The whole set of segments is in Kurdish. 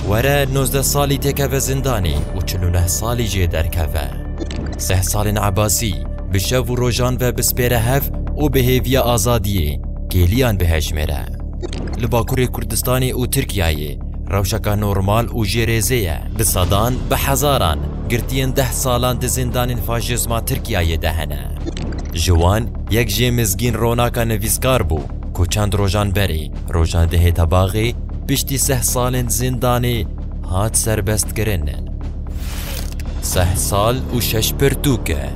Were nozdeh salî têkeve zindanê û çil û neh salî jê derkeve. Seh salên Ebasî bi şev û rojan ve bispêre hev û bi hêviya azadiyê kêliyan bihejmêre. Li Bakurê Kurdistanê û Tirkiyeyê rewşeke normal û jê rêzê ye. Bi sedan, bi hezaran girtiyên deh salan di zindanên faşîzma Tirkiyeyê de hene. Ji wan yek jê mizgîn Ronaka nivîskar bû ku çend rojan berê Rojan Dihêtebaxê piştî seh salên zindanê hat serbestkirin. Seh sal û şeş pirtûk e.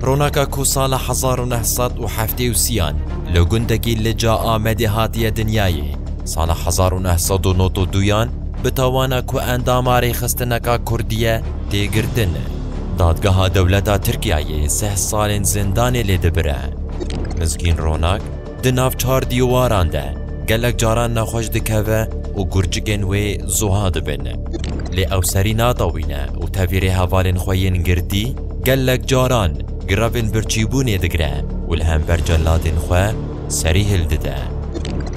Ronaka ku sala hezar û neh sed û heftê û sîyan li gundekî li ca Amedê hatiye dinyayê, sala hezar û neh sed û nod û duyan bi tawana ku endama rêxistineka kurdî ye tê girtin. Dadgeha dewleta Tirkiyeyê seh salên zindanê lê dibire. Mizgîn Ronak di nav çar dîwaran de gelek caran nexweş dikeve û gurcikên wê zoha dibin. Lê ew serî nadawîne û tevî rê hevalên xwe yên girdî gelek caran grevên birçîbûnê digire û li hember celadên xwe serî hildide.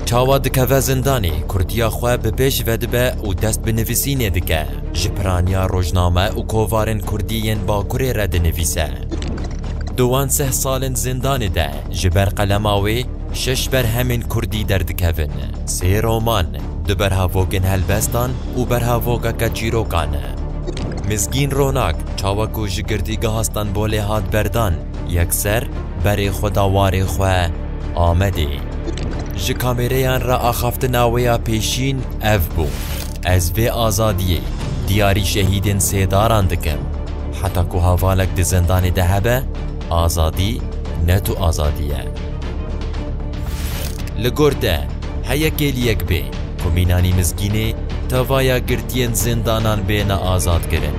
Çawa dikeve zindanê kurtiya xwe bi pêş vedibe û dest bi nivîsînê dike, ji piraniya rojname û kovarên kurdî yên Bakurê re dinivîse. Dowan seh sal in zindanê de ji ber qelema wê şeş berhemên kurdî derdikevin, sê roman, du berhavogên helbestan û berhavogeke çîrokan. Mizgîn Ronak çawa ku ji Girtîgeha Stenbolê hat berdan, yekser berê xwe da warê xwe Amedê. Ji kamêreyan re axaftina wê ya pêşîn ev bû. Ez vê azadiyê diyarî şehîdên sêdaran dikim. Heta ku hevalek di zindanê de hebe, azadî ne tu azadî ye. Li gor te heye kêliyek bê ku mînanî mizgînê tevaya girtiyên zindanan bêne azadkirin.